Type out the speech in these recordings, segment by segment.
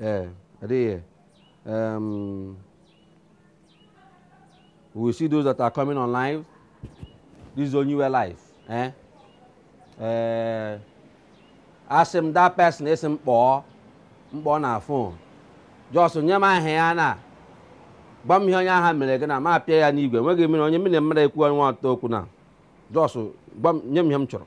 ee adịghị um, we see those that are coming on live this is only live eh? uh, asị m that person ị sị m kpọọ na fon just nye m aha ya na gwa m ihe onye ahụ mere gị na m apịa ya n'igwe enweghị mmiri onye mmiri mmadụ ekwu nwa ọtọ okwu na just nye m ihe m chọrọ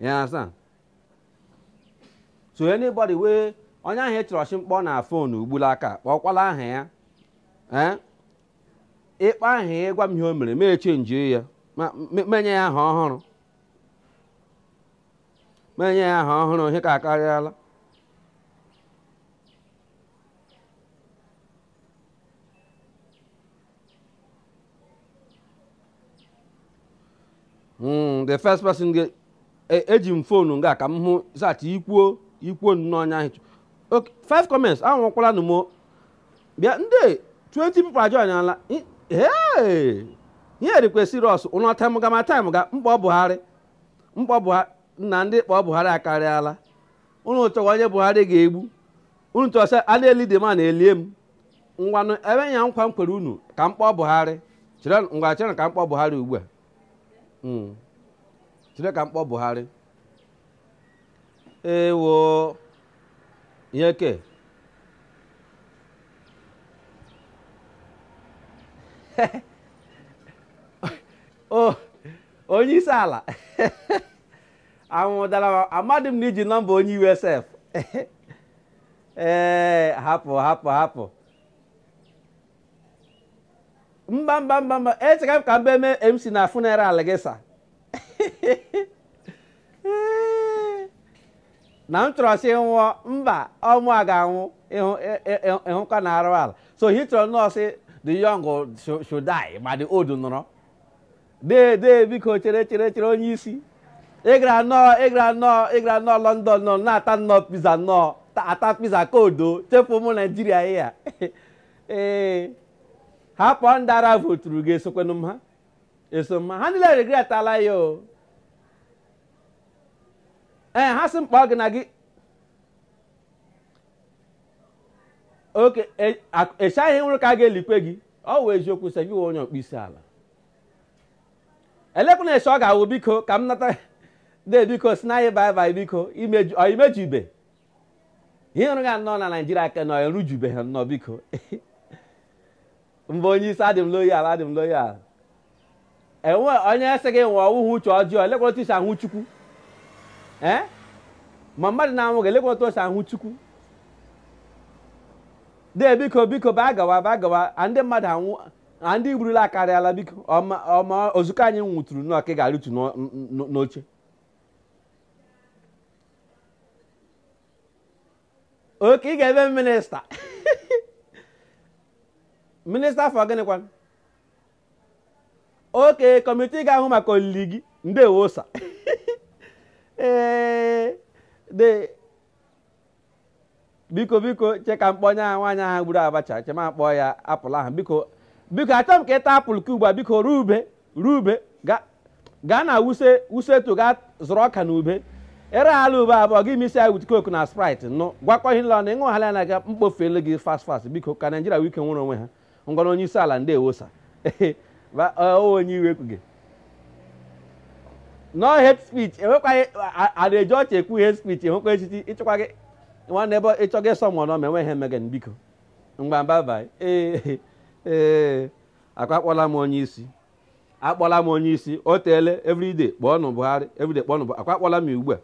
You understand? so anybody wey onye ahụ ị chọrọ sị m kpọọ na fon ugbula aka kpọkwala aha ya ee ị kpọọ aha ya ị gwa m ihe o mere m echenjie ya ma- me- m enye ya aha ọhụrụ m enye ya aha ọhụrụ ihe ka akarịala Hmm, the first person ga e, eji m fonu nga ka m hụ zat ikwuo ikwuo nnọọ onye ahụ okay five comments anwụkwalanụ m o bịa ndị 20 people ajoinala ee ihe dịkwa serious unu tem ga ma time ga m kpọọ buhari m kpọọ buhari na ndị kpọọ buhari akarịala unu chọwa onye buhari ga-egbu unu chọ sị a na-eli dee m unu elie m ngwanụ ebe ya nkwa m kwere unu ka m kpọọ buhari chere ngwa chere ka m kpọọ buhari ugbu a Mm. chere ka m kpọọ buhari ewo ihe ke o onye isi ala anwụ dara amadị m na i ji nọmba onye usf ee hapụ hapụ hapụ mba mba mba mba echekwa m ka m bịa mee mc na funeral gị sị na m chọrọ sị nwụọ mba ọ mụwa ga-anwụ ị hụkwa na arụ ala so he chọrọnụ sị the young should die ma the old nọrọ dee dee biko chere chere chere onye isi ị gara nnọọ ị gara nnọọ ị gara nnọọ london nọ na-ata nnọọ pizza nọ na-ata pizza ka odo chefu ụmụ naijiria ihe a ee hapụ ndị ara voturu gị esokwanụ m ha eso m ha ha niile regretala ya o ee ha sị m kpọọ gị na gị oke echaghị nwụrụ ka a ga-elikwe gị ọ wụ eziokwu seviwe onye ọkpụ isi ala elekwanụ esi ọ ga-awụ biko ka m nata de biko sịnụ anyị bye bye biko imeju ọ imejuibe ihe ọrụ ga nnọọ na naijiria aka nọ erujube ha nnọọ biko mba onye isi adị m loyal adị m loyal enwe onye sị gị nwe ọwụhụ uche ọjọọ elekwana otu isi ahụ chukwu ee ma mmadụ na-anwụ gị elekwana otu o si ahụ chukwu dee biko biko baa gawa baa gawa a ndị mmadụ anwụ na ndị i gburula akarịala biko ọma ọma ozukọ anyị nwụtụrụ nnọọ ka ị ga-arịtu n'o- n'o- n'oche okay ị ga-eme minista minista for gịnịkwa okay kọmitii ga-ahụ maka olili gị ndewo sir ee de biko biko che ka m kpọọ onye ahụ nwaanyị ahụ gburu abacha che ma kpọọ ya apple ahụ biko biko achọrọ m ka ị taa apple ka ugbu a biko ruo ube ruo ube ga- gaa na wuse wuse 2 gaa zụrụ ọka na ube ere ala ube abụọ gị mix ya with coke na sprite nụ gwakọ ihe niile na ịṅụ hala ya na ga mkpofelu gị fast fast biko ka naijiria nwee ike nwere onwe ha ngwanụ onye isi ala ndewo sir onye iwe kwuge no hate speech enwekwaghị ada eji ọchị ekwu hate speech enwekwa echichi ịchịkwa gị nwanne ebe ịchọ gị sọ mụọ n'ọma enweghị ihe mege biko ngwanụ bye bye ee ee ọ kwa akpọla m onye isi akpọla m onye isi o teele everyday kpọọnụ Buhari everyday kpọọnụ Buhari ọ kwa akpọla m ugbu a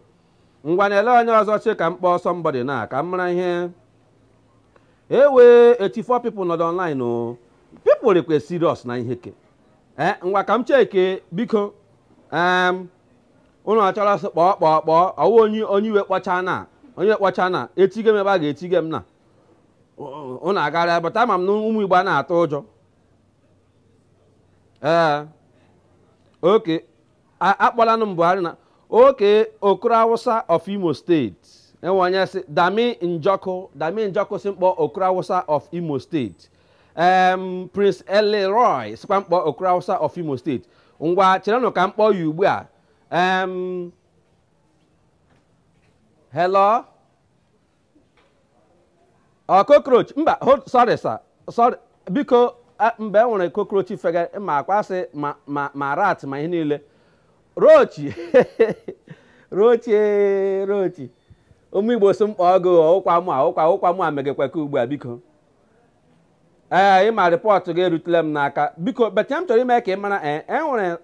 ngwanụ elee onye ọzọ che ka m kpọọ somebody na ka m mara ihe enwe 84 people nọdụ online o people rịkwa serious na ihe ke ee ngwa ka m check biko em unu ọ chọrọ sị kpọọ kpọọ kpọọ ọwụ onye onye iwe kpọcha na onye kpọcha na etige m mgbe a ga-etige m na unu agara bata ama m na ụmụ igbo a na-atụ ụjọ ee okay akpọlanụ m buhari na okay okoro awụsa of imo state enwe onye sị dami njọkụ dami njọkụ sị m kpọọ okoro awụsa of imo state em prince elroy sịkwa m kpọọ okoro awụsa of imo state ngwa cherenụ ka m kpọọ ya ugbu a em hello ọ cockroach mba hold sorry sir sorry biko a- mgbe e nwere cockroach fega ma akwasị ma ma ma rat ma ihe niile rochi rochi ee, rochi ụmụ igbo sị m kpọọ gị ụkwa mụ a ụkwa ụkwa mụ a megekwa ka ugbu a biko ee ị ma report gị erutela m n'aka biko but ihe m chọrọ ime ka ị mara ee e nwere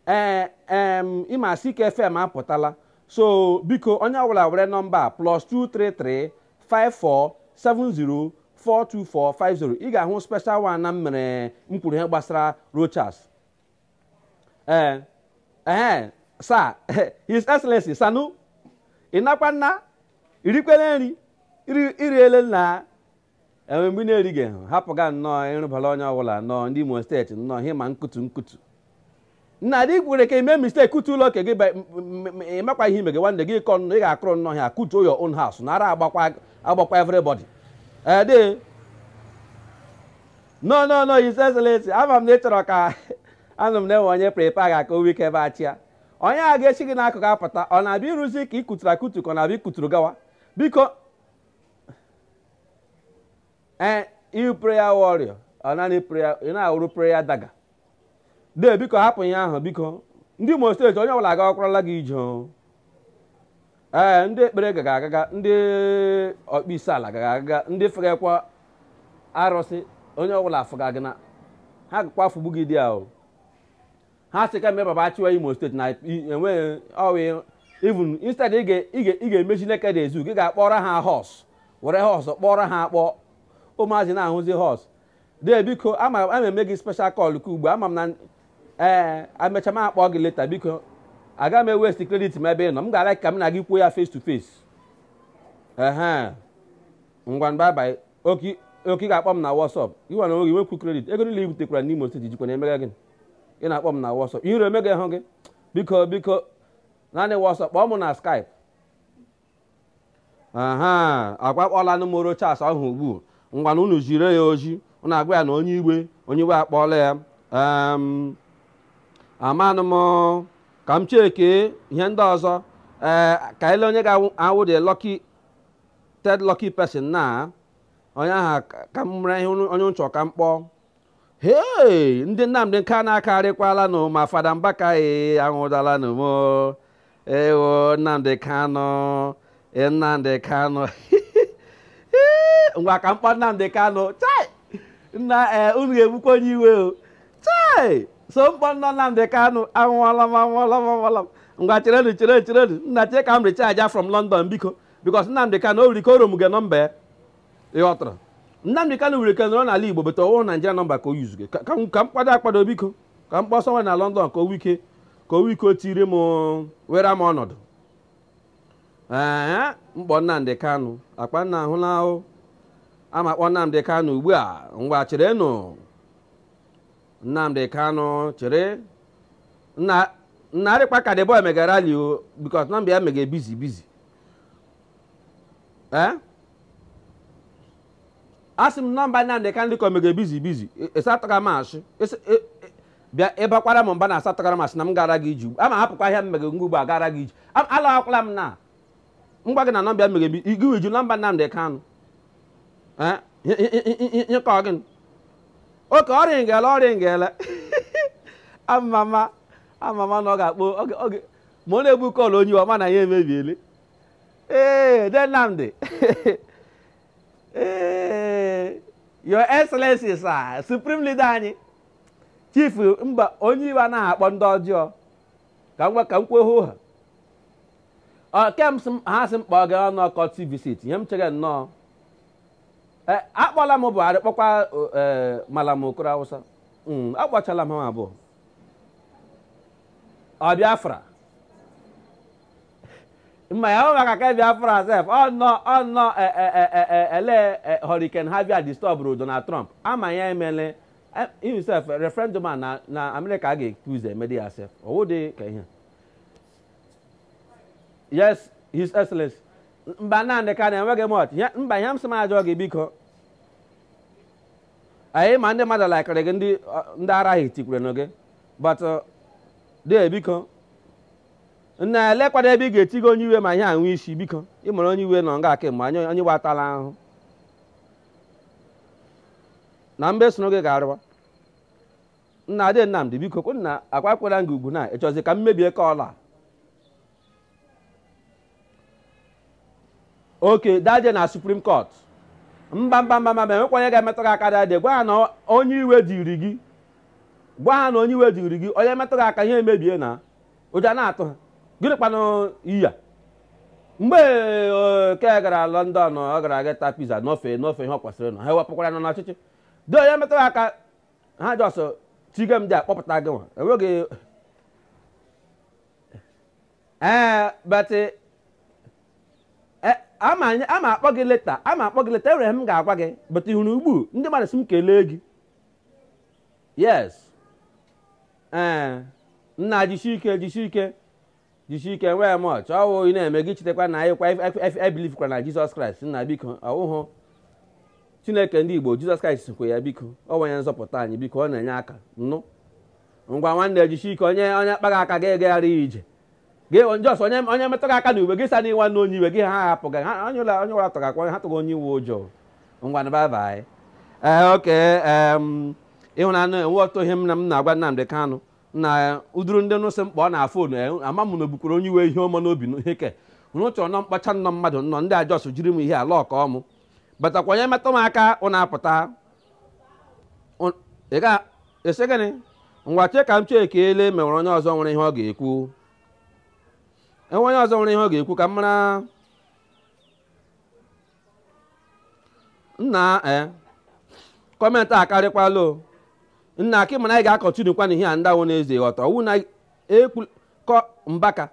ee em ịma Sike FM apụtala so biko onye ọbụla were nọmba plus 233 54 70 42450 ị ga-ahụ special one na m mere m kwuru ihe gbasara Rochas ee ee sa his excellency sanu ịnakwa nna irikwele nri iri- iriele nna e nwe mgbe ị na-erighị ha hapụga nnọọ ịrụbara onye ọbụla nnọọ ndị Imo steeti nnọọ ihe ma nkutu nkutu nna dị kwere ka i mee mistake kutuo ụlọ nke gị ba- m- m- m- ị makwa ihe ime gị nwanne gị kọ nnọọ ị ga-akụrụ nnọọ ha kutuo your own house nara agbakwa agbakwa everybody ede no no no his excellency ama m na ị chọrọ ka anụ m na e nwe onye prepa ga ka o wike bịa chịa onye a ga-echi gị n'akụkụ apụta ọ na-abịa ịrụzi ihe ị kuturu akutu ka ọ na-abịa ikuturu gawa biko ee eh, ị wụ prayer warrior ọ naanị prayer ị na-awụrụ prayer daga dee biko hapụ ihe ahụ biko ndị Imo steeti onye ọbụla agakwarala gị ije ee eh, ndị ekpere gaga agaga ndị ọkpụ isi ala gaga agaga ndị fegakwa arụsị onye ọbụla afụga gị na ha gakwa afụgbu gị there ha sị ka mee baba achịwa Imo steeti na enweghị ọwụ even instead ị ga- ị ga- ị ga-emezi Nekede Zoo ị ga-akpọrọ ha horse were horse kpọọrọ ha akpọ ụmụazị na-ahụzi horse dee biko ama ama eme gị special call ka ugbu a, ama m na ee emechaa m akpọ gị later biko aga m e-waste credit m ebe ị nọ m ga-ala ka m na gị kwuo ya face to face ehe ngwa bye bye okay okay ị ga-akpọ m na WhatsApp gị nwa na oge nwekwu credit ego niile ibutekwara n'Imo steeti jikwa na-emega gịnị ị na-akpọ m na WhatsApp ihere emegahụ gị biko biko naanị WhatsApp kpọọ m na Skype aha ngwa akpọọla nụ m Rochas ahụ ugbu ngwanụ unu ziere ya ozi unu agwa ya na onye iwe onye iwe akpọọla ya em, amanụ m ka m cheke ihe ndị ọzọ ee ka e lee onye ga-awụ the lucky third lucky person na onye aha ka m mara ihe onye m chọ ka m kpọọ hei ndị Nnamdị Kanụ akarịkwala nụ ma fada Mbaka e anwụọla nụ m ewo Nnamdị Kanụ e, Nnamdị Kanụ ngwa ka m kpọọ Nnamdị Kanụ chai nna e, unu ga-egbukwa onye iwe o chai so m kpọọ nna Nnamdị Kanụ anwụọla m anwụọla m anwụọla m ngwa cherenụ cherenụ cherenụ nna chere ka m recharge from London biko because Nnamdị Kanu o wiri ike o roam-ge nọmba ya ịghọtara Nnamdị Kanu wiri ike nọrọ n'ala Igbo but ọwụhụ Naijiria nọmba ka o use-ge ka ka m ka m kpado akpado biko ka m kpọsọ nwe na London ka o wike ka o wike o tiri m were m ọnọdụ ee m kpọọ Nnamdị Kanu akpa nna ahụ na ahụ ama kpọ Nnamdị Kanu ugbu a ngwa cherenụ Nnamdi Kanu chere na narịkpa ka the boy mega rally o because nọmba ya mega busy busy ee eh? asị m nọmba Nnamdi Kanu ka mega busy busy ịsatọga e, e m asị e, bịa ịbakwara m mba na asatọgara m asị na m gara gị iji ama hapụkwa ahịa m mega ngwa ugbo a gara gị iji alawakwala m na ngwa gị na nọmba mere bi igi wiju nọmba Nnamdi Kanu eh, ihe ka ọ gị okay ọ ringịla ọ ringịla amama amama na ọ ga-akpọ oge ma ọ na-ebu call onye iwe ma na ihe emebiele ee dee Nnamdi ee your excellency sir supreme leader anyị chief mba onye iwe anaghị akpọ ndị ọjọọ ka m gwa ka m kwuo hoo ha Ọ, ke m sị m- ha sị m kpọọ gị ọnụ courtesy visit ihe m chere nnọọ E, akpọla m buhari kpọkwa o, e, malam okoro awụsa Mm, akpọchala m ha abụọ ọ biafra ma ya ọ maka ke biafra sef ọnọ ọnọ ele Hurricane Harvey a distọbụrụ Donald Trump ama ya emele himself eh, referendum a na na amerịka a ga-ekpe ụzọ emedi ya sef ọwụ dị ka ihe yes his excellency mba naanị ka na enweghị much mba ihe m sị m jụọ gị biko anyị ma ndị mmadụ laikere gị ndị ndị ara ahụ tikwere na gị but uh, dee biko nna elekwado ebe ị ga-etigo onye iwe ma ihe anwụ isi biko ị mara onye iwe nọ nga kemgbe onye onye watala ahụ na mbe soro gị ga-arịwa nna dee Nnamdi biko kwa nna akwakwara m gị ugwu na ịchọzi ka m mebie ka ọla oke daje na supreme court mba mba mba mba ma enwekwa onye ga-emetụ gị aka dede gwa ha na onye iwe dịịrị gị gwa ha na onye iwe dịịrị gị onye metụ gị aka ihe emebie na ụjọ na-atụ ha gịnị kwanụ iya mgbe eh, ke gara London ọ gara aga ta pizza n'ofe n'ofe ihe ọ kwesịrị na ha ewepụkwara nọ n'ọchịchị dị onye metara aka ha just tige m dị akpọpụta gị nwa enweghị ee eh, but ama anyị ama akpọ gị later ama akpọ gị later enwere ihe m ga-agwa gị but ị hụrụ ugbu ndị mmadụ sị m kelee gị yes ee nna jisie ike jisie ike jisie ike enweghị much ọwụ ị na-emega ị chetakwa na anyị kwa believekwara na jizọs kraịst nna biko ọwụhụ chineke ndị igbo jizọs kraịst sikwa ya biko ọ wụ onye nzọpụta anyị biko ọ na-enye aka nụ ngwa nwanne jisie ike onye onye kpa gị aka ga-egagharị ya ije gị na Jos onye onye metụ gị aka na uwe gị sa n'iwa na onye iwe gị ha hapụ gị ha onye ụlọ onye ụlọ tụrụ akwa ha tụrụ onye iwe ụjọ ngwanụ bye bye ee okay em ịhụnanụ e nwere otu ihe m na m na-agwa Nnamdị Kanụ na uduru ndị nụsị mkpa ọ na phone e, ama m na unu bukwuru onye iwe ihe ọma n'obi na ihe ke unu chọrọ nọ mkpacha nnọ mmadụ nnọ ndị Jos jiri m ihe ala ọka ọmụ but ọ kwa onye metụ m aka unu apụta Ụ- ị sị gịnị ngwa chee ka m chee ka e lee ma e nwere onye ọzọ nwere ihe ọ ga-ekwu e nwere onye ọzọ nwere ihe ọ ga-ekwu ka m mara nna e comment akarịkwala o nna okay mana anyị ga-continue kwanụ ihe a ndewo na-eze ghọta ọ wụ na ekwu kọ Mbaka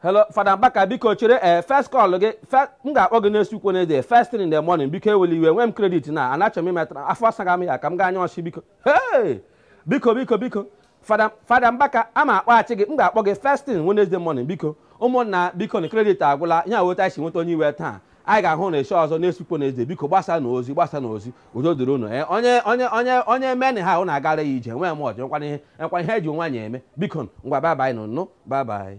hello Fada Mbaka biko chere ee first call gị fe- m ga-akpọ gị next week Wednesday first thing in the morning biko ewela iwe nwee m credit na ana achọ m imetara afọ asaga m ya ka m gaa anya ọchị biko hey! biko biko biko Fada Fada Mbaka aga m akpọghachi gị m ga-akpọ gị first thing Wednesday morning biko ụmụnna biko na credit agwụla ya weta isi nweta onye iwe taa anyị ga-ahụ na eche ọzọ next week Wednesday biko gbasaanụ ozi gbasaanụ ozi udo dịrị unu ee onye onye onye onye meni ihe a unu agara ya ije nwee m ọjọ nkwana ihe nkwana ihe e ji nwaanyị eme biko ngwa bye bye nụ nụ bye bye